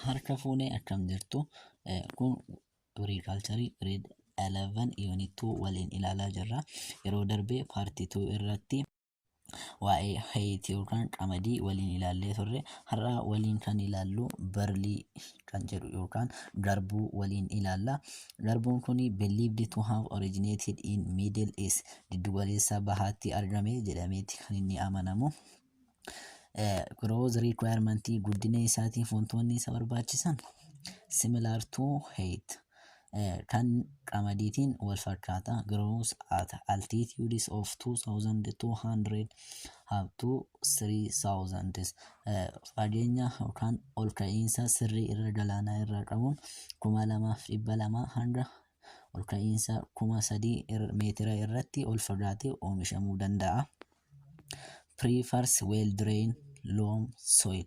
Harka fuunee akkam jirtu kun agriculture grade 11 unit 2 waliin ilaalaa jirra. Yeroo darbee part 2 irratti waa'ee hayiti yookaan qamadii waliin ilaallee turre. Har'a waliin kan ilaallu barlii kan jedhu yookaan garbuu waliin ilaalla. Garbuun kun believed to have originated in middle east giddugaleessa bahaatti argame jedhameeti kan inni amanamu. growth requirement guddina isaatiif wantoonni isa barbaachisan similar to height eh, kan qamadiitiin wal fakkaata grows at altitudes of 2200 up to 3000 eh, fageenya yookaan ol ka'iinsa sirrii irra galaanaa irraa qabuun 2200 hanga ol ka'iinsa kuma sadii meetira irratti ol fagaatee oomishamuu danda'a. Prefers well drain loam soil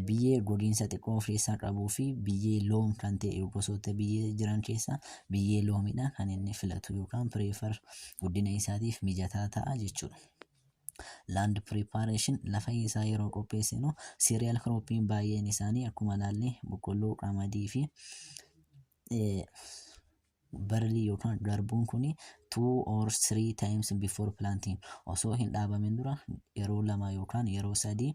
biyyee gogiinsa xiqqoo of keessaa qabuu fi biyyee loom kan ta'e gosoota biyyee jiran keessaa biyyee loomidha kan inni filatu yookaan prefer guddina isaatiif mijataa ta'a jechuudha. Land preparation lafa isaa yeroo qopheessinu cereal croppiin baay'een isaanii akkuma ilaalle boqqolloo, qamadii fi barley yookaan garbuun kun two or three times before planting osoo hin dhaabamin dura yeroo lama yookaan yeroo sadii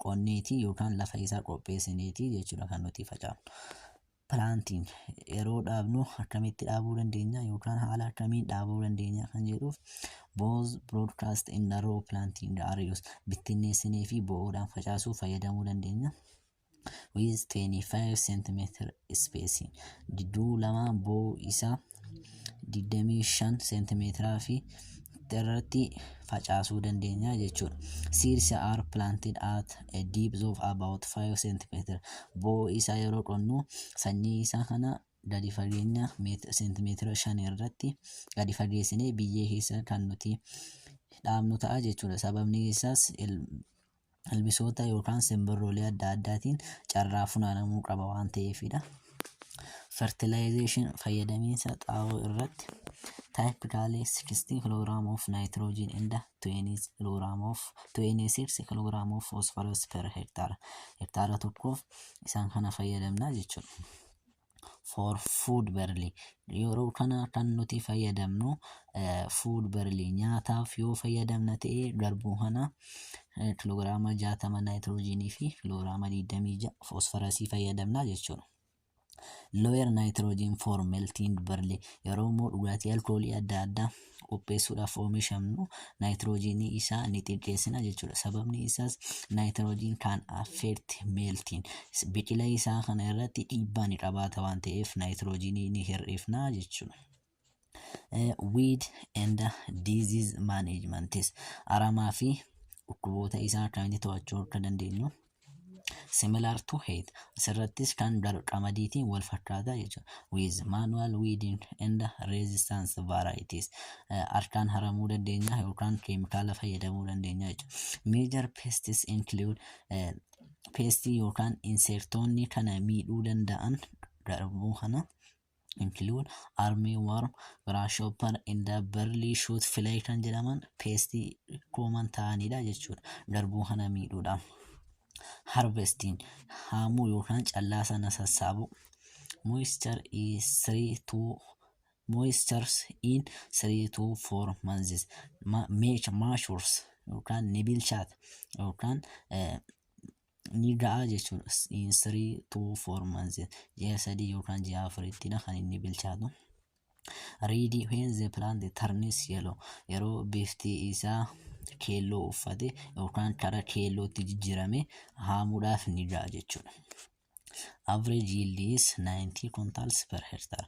qonneetii yookaan lafa isaa qopheessineetii jechuudha kan nuti facaafnu. Planting yeroo dhaabnu akkamitti dhaabuu dandeenya yookaan haala akkamiin dhaabuu dandeenya kan jedhuuf both broadcast in the row planting areas bittinneessinee fi bo'oodhaan facaasuu fayyadamuu dandeenya. with 25 cm spacing jidduu lamaa boo isaa 25 cm fi irratti facaasuu dandeenya jechuudha. Seeds are planted at a depth of about 5 cm. Boo isaa yeroo qonnu sanyii isaa kana gadi fageenya seentimeetira 5 irratti gadi fageessinee biyyee keessa kan nuti dhaabnu ta'a jechuudha. Sababni isaas ilbisoota yookaan simbirroolee adda addaatiin carraa funaanamuu qaba waan ta'eefidha. Fertilization fayyadamiinsa xaa'oo irratti typically 60 kg of nitrogen and 20 kg of 26 kg of phosphorus per hectare hektaara tokkoof isaan kana fayyadamna jechuudha. for food barley yeroo kana kan nuti fayyadamnu food barley nyaataaf yoo fayyadamna ta'e garbuu kana kiloogiraama 60 naayitiroojiinii fi kiloogiraama 26 foosfarasii fayyadamna jechuudha. Lower nitrogen for melting barley yeroo immoo dhugaatii alkoolii adda addaa qopheessuudhaaf oomishamnu naayitiroojiinii isaa ni xiqqeessina jechuudha. Sababni isaas naayitiroojiin kan affeerti meeltiin biqila isaa kana irratti dhiibbaa ni qabaata waan ta'eef naayitiroojiinii ni hir'ifna jechuudha. Eh, Weed and Disease Managements aramaa fi dhukkuboota isaa akkamitti to'achuu akka dandeenyu similar to heat asirrattis kan daru qamadiitiin wal fakkaata jechuudha with manual weeding and resistance varieties Eh, harkaan haramuu dandeenya yookaan keemikaala fayyadamuu dandeenya jechuudha major pests include eh, pestii yookaan inseektoonni kana miidhuu danda'an garbuu kana include army worm, grasshopper, and the burly shoot fly kan jedhaman peestii kooman ta'anidha jechuudha. Garbuu kana miidhuudha. Harvesting haamuu yookaan callaa sana sassaabuu. Moisture is 3 to moistures in 3 to 4 months. Ma- Make matures yookaan ni bilchaata yookaan eh, ni ga'a jechuudha. In three to four months ji'a sadii yookaan ji'a afurittidha kan inni bilchaatu. Read when the plant turns yellow yeroo bifti isaa keelloo uffate yookaan kara keellootti jijjiirame haamuudhaaf ni ga'a jechuudha. Average yield is 90 quintals per hectare.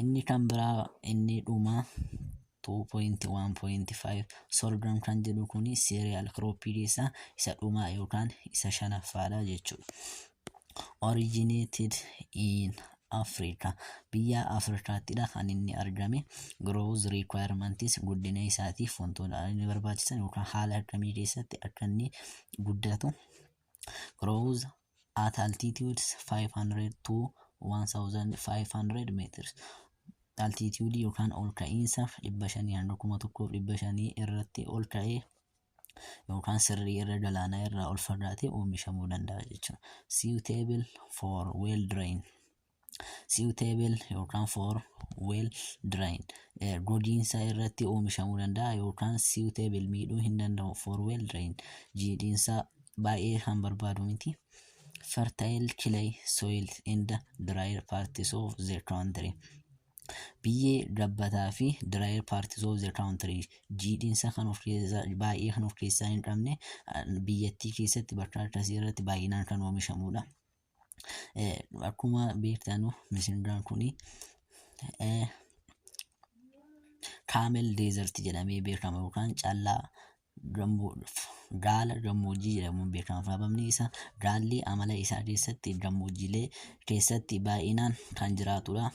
Inni kan biraa inni dhumaa 2.1.5 sorghum kan jedhu kuni cereal crop isa isa dhumaa yookaan isa shanaffaadha jechuudha. Originated in Africa biyya Afrikaattidha kan inni argame growth requirements guddina isaatiif wantoota inni barbaachisan yookaan haala akkamii keessatti akka inni guddatu growth at altitudes 500 to 1500 meters altitude yookaan ol ka'iinsa 500 hanga 1500 irratti ol ka'ee yookaan sirrii irra galaanaa irraa ol fagaatee oomishamuu danda'a jechuudha. Suitable for well drain. suitable yookaan for well drain eh, gogiinsa irratti oomishamuu danda'a yookaan suitable miidhuu hin danda'u for well drain jiidhiinsa baay'ee kan barbaadu miti. fertile clay soil in the drier parts of the country. Biyyee gabbataa fi drier parts of the country jiidhiinsa kan of keessaa baay'ee kan of keessaa hin qabne ah, biyyattii keessatti bakka akkasii irratti baay'inaan kan oomishamudha. akkuma beektanu misindaan kun kaamel deezerti jedhamee beekama yookaan callaa gaala gammoojjii jedhamuun beekama sababni isaa gaalli amala isaa keessatti gammoojjiilee keessatti baay'inaan kan jiraatudha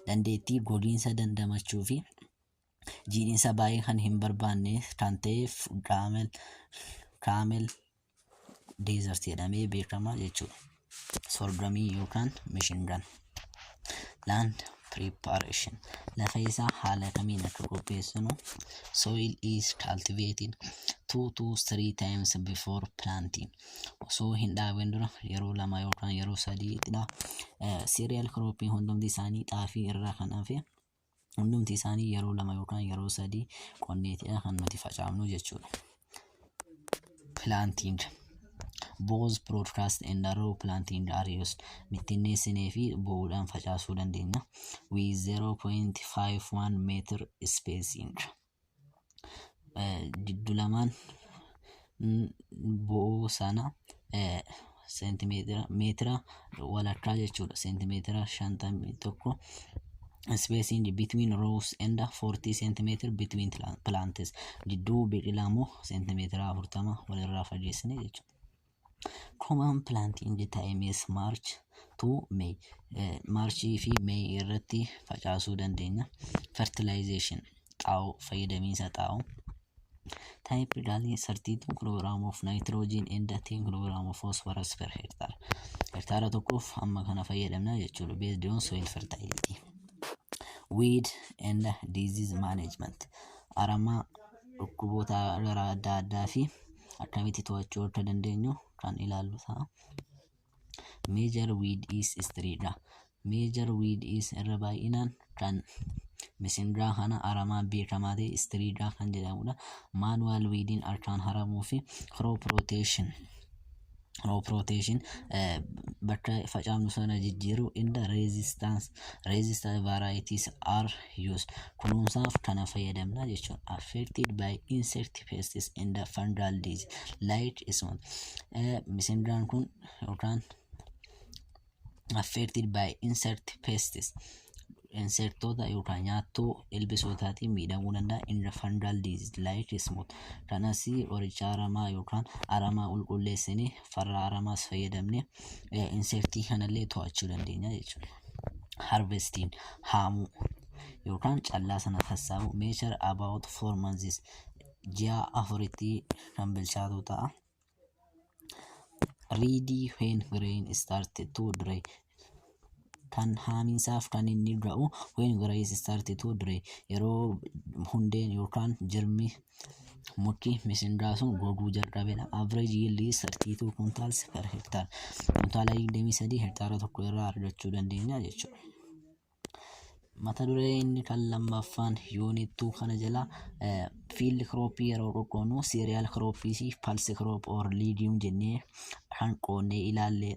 dandeettii gogiinsa dandamachuu fi jiidhinsa baay'ee kan hin barbaanne kan ta'eef kaamel desert jedhamee beekama jechuudha. Sorgamii yookaan mishingaan. Land preparation. Lafa isaa haala kamiin akka qopheessinu. Soil is cultivated two to three times before planting. Osoo hin dhaabin dura yeroo lama yookaan yeroo sadiidha. Cereal cropping hundumti isaanii xaafii irraa kan hafe hundumti isaanii yeroo lama yookaan yeroo sadii qonneetidha kan nuti facaafnu jechuudha. Planting both broadcast and row planting are used bittinneessinee fi bo'uudhaan facaasuu dandeenya with 0.51 meter spacing. giddu lamaan bo'oo sana seentimeetira meetira walakkaa jechuudha seentimeetira shantamii tokko spacing between rows and 40 centimeter between plants gidduu biqilaa immoo seentimeetira afurtama walirraa fageessine jechuudha. Common planting time is March to May. Maarchii fi May irratti facaasuu dandeenya. Fertilization xaa'oo fayyadamiinsa xaa'oo. Type Dali 32 kilogram of nitrogen and 10 kilogram of phosphorus per hectare. Hektaara tokkoof amma kana fayyadamna jechuudha. Based on soil fertility. Weed and disease management. Aramaa dhukkuboota gara adda addaa fi akkamitti to'achuu akka dandeenyu kan ilaallu ta'a. Major weed is street dha. Major weed is irra baay'inaan kan misingaa kana aramaa beekamaa ta'e istiriidhaa kan jedhamudha. Maanuwaal wiidiin harkaan haramuu fi crop rotation Crop rotation eh, bakka facaafnu sana jijjiiruu in the resistance resistance varieties are used kunuunsaaf kana fayyadamna jechuun affected by insect pests in the fungal disease like isuma eh, misingaan kun yookaan affected by insect pests insektoota yookaan nyaattoo ilbisootaatiin miidhamuu danda'a in fungal disease like smut kanas qoricha aramaa yookaan aramaa qulqulleessinee farra aramaas fayyadamne insektii kanallee to'achuu dandeenya jechuudha. Harvestiin haamuu yookaan callaa sana sassaabuu measure about four months ji'a afuritti kan bilchaatu ta'a. Ready when grain start to dry. Kan haamiinsaaf kan inni ga'u when grain start to dry. Yeroo hundeen yookaan jirmi muki misingaa sun goguu jalqabedha. Average yield is 32 quintals per hectare. Kuntaala 23 hektaara tokko irraa argachuu dandeenya jechuudha. Mata duree inni kan lammaffaan unit 2 kana jala eh, field crop yeroo qoqqoonu cereal crop fi pulse crop or legume jennee kan qoonnee ilaallee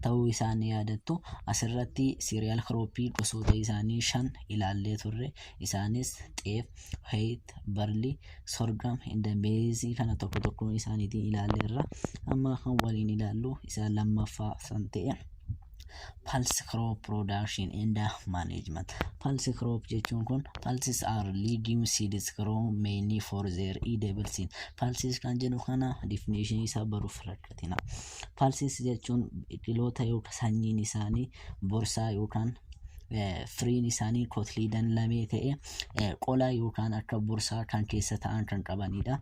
ta'uu isaa ni yaadattu. Asirratti cereal crop gosoota isaanii shan ilaallee turre. Isaanis xeef, wheat, barley, sorghum, and maize kana tokko tokkoon isaaniitiin ilaalleerra. Amma kan waliin ilaallu isa lammaffaa san ta'e. pulse crop production and management pulse crop jechuun kun pulses are legume seeds grown mainly for their edible seed pulses kan jedhu kana definition isaa baruuf rakkatina pulses jechuun biqiloota yookaan sanyiin isaanii borsaa yookaan firiin isaanii kotliidan lamee ta'e qola yookaan akka borsaa kan keessa ta'an kan qabanidha.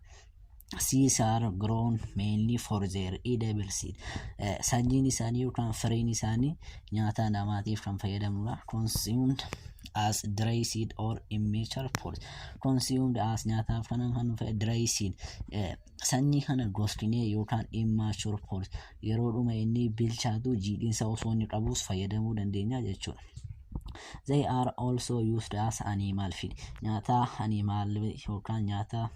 seeds are grown mainly for their edible seed. Eh, Sanyiin isaanii yookaan firiin isaanii nyaata namaatiif kan fayyadamudha. Consumed as dry seed or immature fruit. Consumed as nyaataaf kan kan fayyad- dry seed. Eh, Sanyii kana goskinee yookaan immature fruit. yeroodhuma inni bilchaatu jiidhinsa osoo inni qabuus fayyadamuu dandeenya jechuudha. They are also used as animal feed. Nyaata animal yookaan nyaata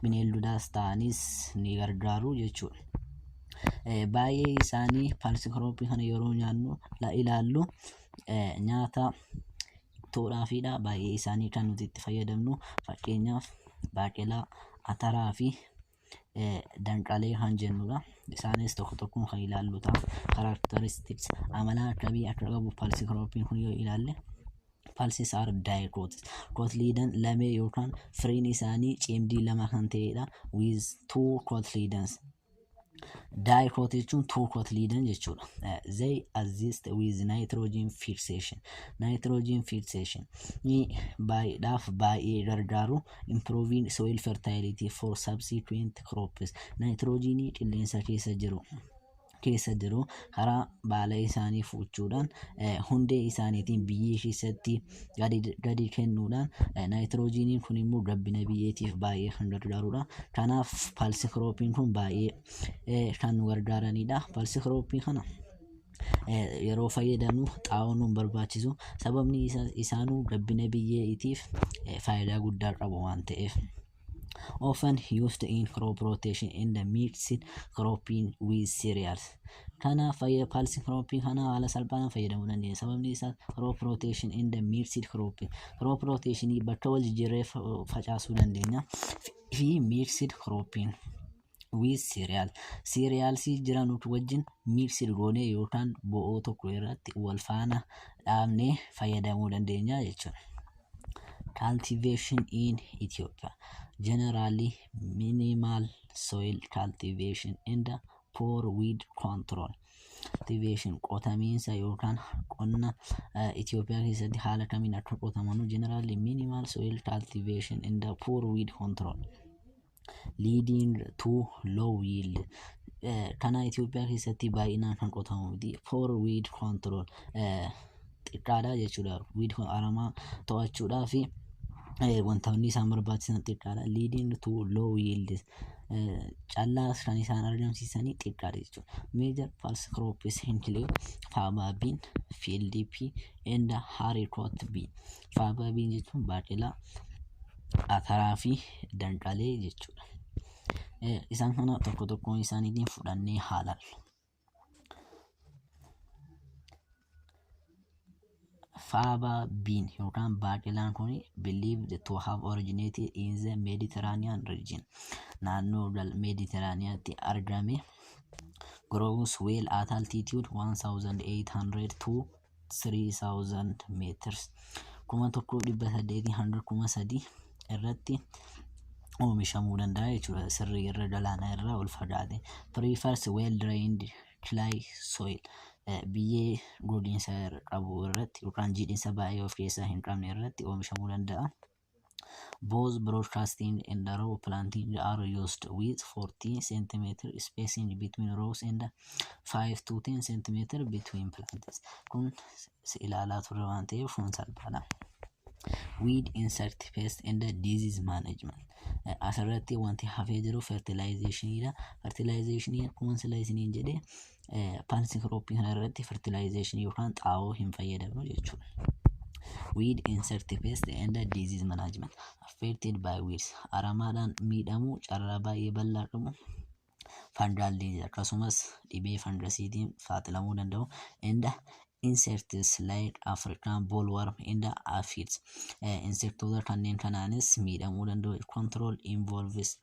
bineeldotaas ta'anis ni gargaaru jechuudha. Eh, Baay'ee isaanii paalsikirooppii kana yeroo nyaannu la- ilaallu eh, nyaata toodhaafiidha. Baay'ee isaanii kan nuti itti fayyadamnu fakkeenyaaf baaqelaa, ataraa fi danqaalee kan jennudha. Isaanis tokko tokkoon kan ilaallu ta'a. Characteristics amala akkamii akka qabu paalsii kiroopiin kun yoo ilaalle paalsii saar daayikootis. Kootliidan lamee yookaan firiin isaanii cimdii lama kan ta'edha. With two cotyledons. Daayikoot jechuun two cotyledon jechuudha. They exist with nitrogen fixation. Nitrogen fixation. Ni baay'eedhaaf baay'ee gargaaru. Improving soil fertility for subsequent crops. Naayitiroojiinii qilleensa keessa jiru keessa jiru karaa baala isaanii fuuchuudhaan eh, hundee isaaniitiin biyyee keessatti gadi, gadi kennuudhaan eh, naayitiroojiiniin kun immoo gabbina biyyeetiif baay'ee kan gargaarudha. Kanaaf paalsi kiroopiin kun baay'ee eh, kan nu gargaaranidha. Paalsi kiroopii kana yeroo fayyadamnu xaa'oo nuun barbaachisu sababni isaanuu gabbina biyyeetiif faayidaa guddaa qabu waan ta'eef. Often used in crop rotation in the mixed cropping with cereals. Kana fayyada pulse cropping kana haala salphaan fayyadamuu dandeenya. Sababni isaa crop rotation in the mixed cropping. Crop rotation bakka wal jijjiirree facaasuu dandeenya. Fi mixed cropping. with cereal cereals jiranutu wajjin mixed goonee yookaan bo'oo tokko irratti wal faana dhaabnee fayyadamuu dandeenya jechuudha. Cultivation in Ethiopia generally minimal soil cultivation and poor weed control. Cultivation qotamiinsa yookaan qonna Itoophiyaa keessatti haala kamiin akka qotamanu generally minimal soil cultivation and poor weed control. leading to low yield Eh, kana Itoophiyaa keessatti baay'inaan kan qotamu miti for weed control Eh, xiqqaadha jechuudha weed con- aramaa to'achuudhaa fi eh, wantoonni isaan barbaachisan xiqqaadha leading to low yield Eh, callaas kan isaan argamsiisanii xiqqaadha jechuudha major pulse crops include faba bean field pea and haricot bean Faaba biin jechuun baaqelaa, ataraa fi danqalee jechuudha. Isaan kana tokko tokkoon isaaniitiin fudhannee haa laallu. Faaba biin yookaan baaqelaan kun believed to have originated in the Mediterranean region. Naannoo Mediterraneantti argame grows well at altitude 1800 to 3000 meters 1800 hanga 3000 irratti oomishamuu danda'a jechuudha sirrii irra galaana irraa ol fagaate prefers well drained clay soil eh, biyyee gogiinsa qabu irratti yookaan jiidhinsa baay'ee of keessaa hin qabne irratti oomishamuu danda'a. Both broadcasting and row planting are used with 40 cm spacing between rows and 5 to 10 cm between plants. Kun si ilaalaa turre waan ta'eef kun salphaadha. Weed insect pest and disease management. Eh, Asirratti wanti hafee jiru fertilization dha. Fertilization akkuma sila isiniin jedhe Paalsii kirooppii kana irratti fertilaayizeeshinii yookaan xaa'oo hin fayyadamnu jechuudha. Weed insect pest and disease management affected by weeds aramaadhaan miidhamuu carraa baay'ee bal'aa qabu. Fungal disease akkasumas dhibee fangasiitiin saaxilamuu danda'u. And insects like African bollworm and aphids insektoota kanneen kanaanis miidhamuu danda'u. Control involves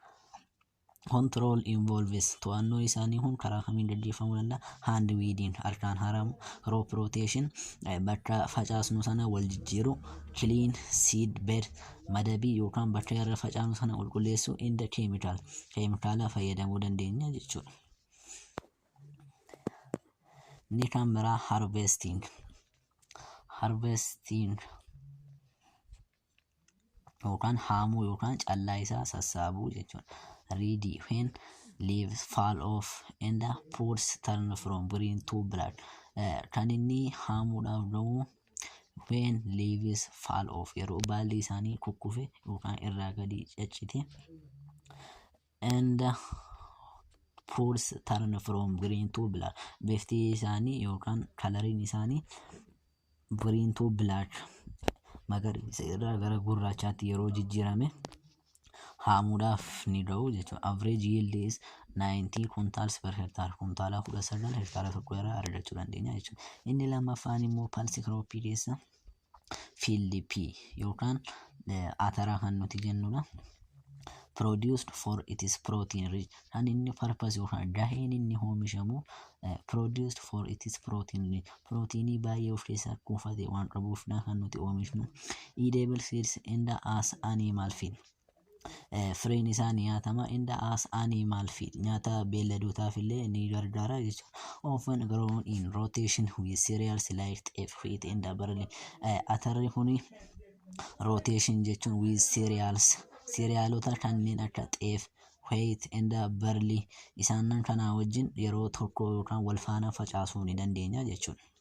Control involves to'annoo isaanii kun karaa kamiin gaggeeffamuu danda'a? Hand weeding harkaan haramu, crop rotation bakka facaasnu sana wal jijjiiru, clean seed bed madabii yookaan bakka irra facaasnu sana qulqulleessuu, and chemical keemikaala fayyadamuu dandeenya jechuudha. Inni kan biraa harvesting harvesting yookaan haamuu yookaan callaa isaa sassaabuu jechuudha. Ready when leaves fall off and fruits turn from green to black. Eh, Kan inni haamuudhaaf ga'u when leaves fall off yeroo baalli isaanii kukkufe yookaan irraa gadi caccite and fruits turn from green to black bifti isaanii yookaan kalariin isaanii green to black magariisa irraa gara gurraachaatti yeroo jijjiirame haamuudhaaf ni ga'u jechuudha. Average yield is 90 kuntaalsi per hektaara kuntaala 19 hektaara tokko irraa argachuu dandeenya jechuudha. Inni lammaffaan immoo palsi kirooppii keessa field P yookaan eh, ataraa kan nuti jennudha. produced for its protein rich kan inni purpose yookaan gaheen inni oomishamu eh, produced for its protein rich proteinii baay'ee of keessaa kuufate waan qabuufdha kan nuti oomishnu edible seeds and as animal feed eh, firiin isaa ni nyaatama in the as animal feed nyaata beelladootaaf illee ni gargaara jechuudha. Often grown in rotation with cereals like xeef, wheat and barley. Eh, Atarri kuni rotation jechuun with cereals cerealota kanneen akka xeef, wheat and barley isaanan kanaa wajjin yeroo tokko yookaan wal faana facaasuu ni dandeenya jechuudha.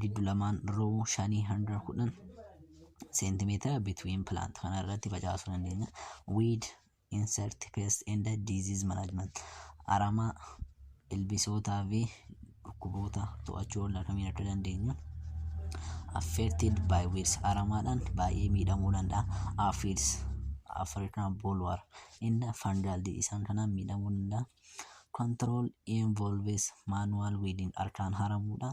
giddu lamaan roo shanii hanga kudhan seentimeetira between plant kana irratti facaasuu dandeenya. Weed insect pest and disease management aramaa ilbisootaa fi dhukkuboota to'achuu oolla kamiin akka dandeenyu affected by weeds aramaadhaan baay'ee miidhamuu danda'a. Aphids African bollworm inna fungal isaan kanaan miidhamuu danda'a. Control involves manual weeding harkaan haramuudha.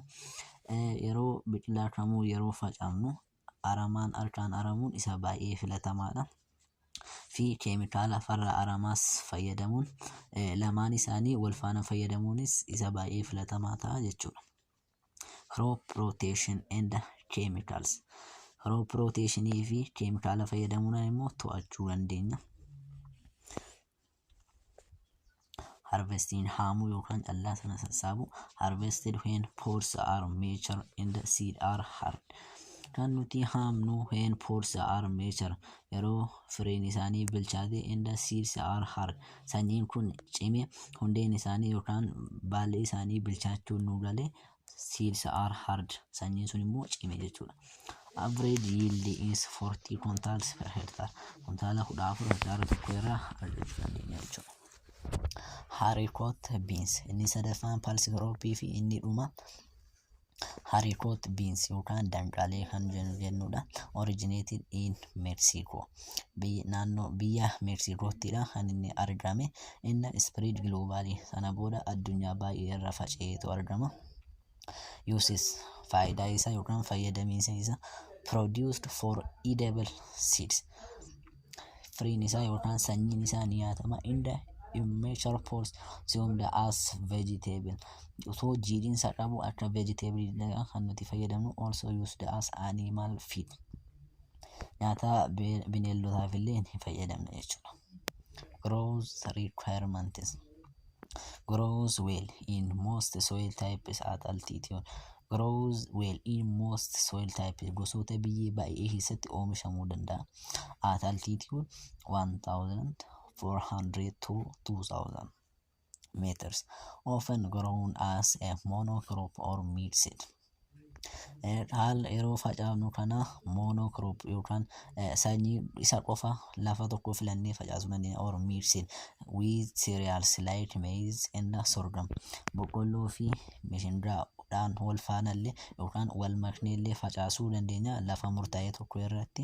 Yeroo biqilaa kamuu yeroo facaafnu aramaan harkaan aramuun isa baay'ee filatamaadha. fi keemikaala farra aramaas fayyadamuun lamaan isaanii wal faana fayyadamuunis isa baay'ee filatamaa ta'a jechuudha. Crop rotation and chemicals. Crop rotation fi keemikaala fayyadamuudhaan immoo to'achuu dandeenya. harvesting haamuu yookaan callaa sana sassaabu harvested when pods are mature and seed are hard kan nuti haamnu when pods are mature yeroo firiin isaanii bilchaate and seeds are hard sanyiin kun cime hundeen isaanii yookaan baalli isaanii bilchaachuun nu gale seeds are hard sanyiin sun immoo cime jechuudha. Average yield is 40 quintals per hectare kuntaala 14 hektaara tokko irraa argachuu dandeenya jechuudha. Haricot beans inni sadaffaan pulse crop fi inni dhuma haricot beans yookaan danqalee kan jennu jennudha. Originated in Mexico. naannoo biyya Meeksiikoottidha kan inni argame. Inni ispiriid giloobaalii sana booda addunyaa baay'ee irra faca'eetu argama. Yuusis faayidaa isaa yookaan fayyadamiinsa isaa produced for edible seeds. Firiin isaa yookaan sanyiin isaa ni nyaatama. Inda immeasure force consumed as vegetable. Osoo jiidhinsa qabu akka vegetable kan nuti fayyadamnu also used as animal feed. nyaataa bineeldotaaf illee hin fayyadamne jechuudha. Grows requirements grows well in most soil types at altitude grows well in most soil types gosoota biyyee baay'ee keessatti oomishamuu danda'a. At altitude 1400 to 2000 meters, often grown as a monocrop or mid seed. Dhaala yeroo facaafnu kana monocrop yookaan sanyii isa qofa lafa tokko filannee facaasuu dandeenya or mid seed with cereals like maize and sorghum. Boqqolloo fi mishindaa dhaan wal faanallee yookaan wal makneellee facaasuu dandeenya lafa murtaa'e tokko irratti.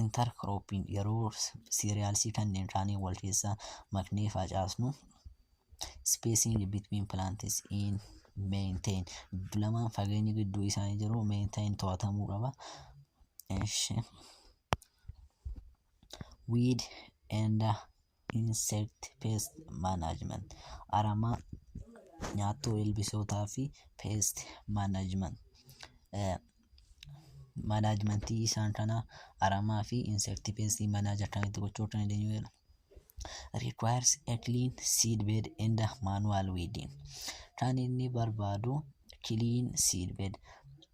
intercropping yeroo cereals kanneen kaanii wal keessa maknee facaasnu spacing between plants in maintain lamaan fageenya gidduu isaanii jiru maintain to'atamuu qaba. Eshi. Weed and Insect Pest Management aramaa nyaattuu ilbisootaa fi pest management manaajimentii isaan kana aramaa fi insect pest manager kan itti gochuu kan dandeenyu jedha. requires a clean seed bed and a manual weeding kan inni barbaadu clean seed bed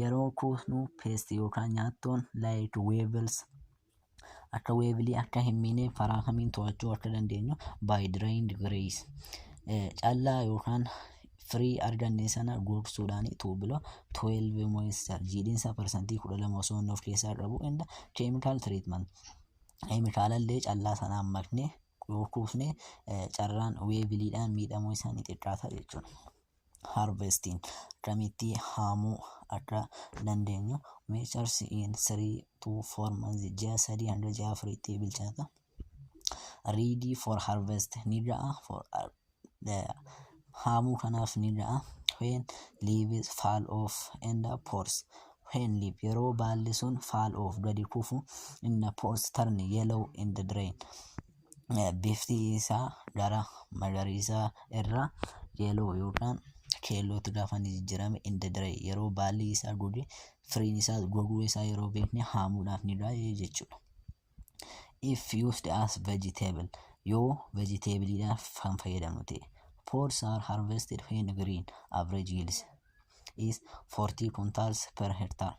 yeroo kuusnu paste yookaan nyaattoon like wevels akka weevilii akka hin miine karaa kamiin to'achuu akka dandeenyu by drained grace callaa yookaan firii arganne sana gogsuudhaan tuubila 12 moisture jiidhinsa parsantii 12 osoo inni of keessaa qabu inda chemical treatment keemikaalallee callaa sanaan makne yoo kuusne carraan weeviliidhaan miidhamuu isaanii xiqqaata jechuudha. harvesting akkamitti haamuu akka dandeenyu measures in 3 to 4 months ji'a sadii hanga ji'a afuriitti bilchaata ready for harvest ni ga'a for uh, the- haamuu kanaaf ni ga'a when leaves fall off and the pores when leaf yeroo baalli sun fall off gadi kufu in the pores turn yellow in the drain bifti isaa gara magariisaa irraa yeloo yookaan keellootti gaafa inni jijjiirame inda dire yeroo baalli isaa goge firiin isaa goguu isaa yeroo beekne haamuudhaaf ni ga'a jechuudha. If used as vegetable yoo vegetabliidhaaf kan fayyadamnu ta'e. Pods are harvested when green average yields is 40 quintals per hectare.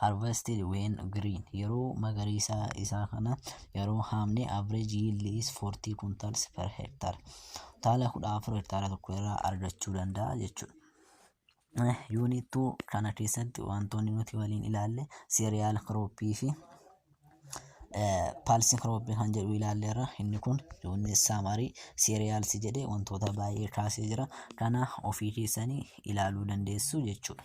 harvested when green yeroo magariisaa isaa kana yeroo haamne average yield is 40 kuntals per hektar taala 14 hektaara tokko irraa argachuu danda'a jechuudha. Yuunittuu kana keessatti wantoonni nuti waliin ilaalle seeriyaal kirooppii fi paalsi kirooppii kan jedhu ilaalleerra inni kun yuunni saamarii seeriyaalsi jedhee wantoota baay'ee kaasee jira kana ofii keessanii ilaaluu dandeessu jechuudha.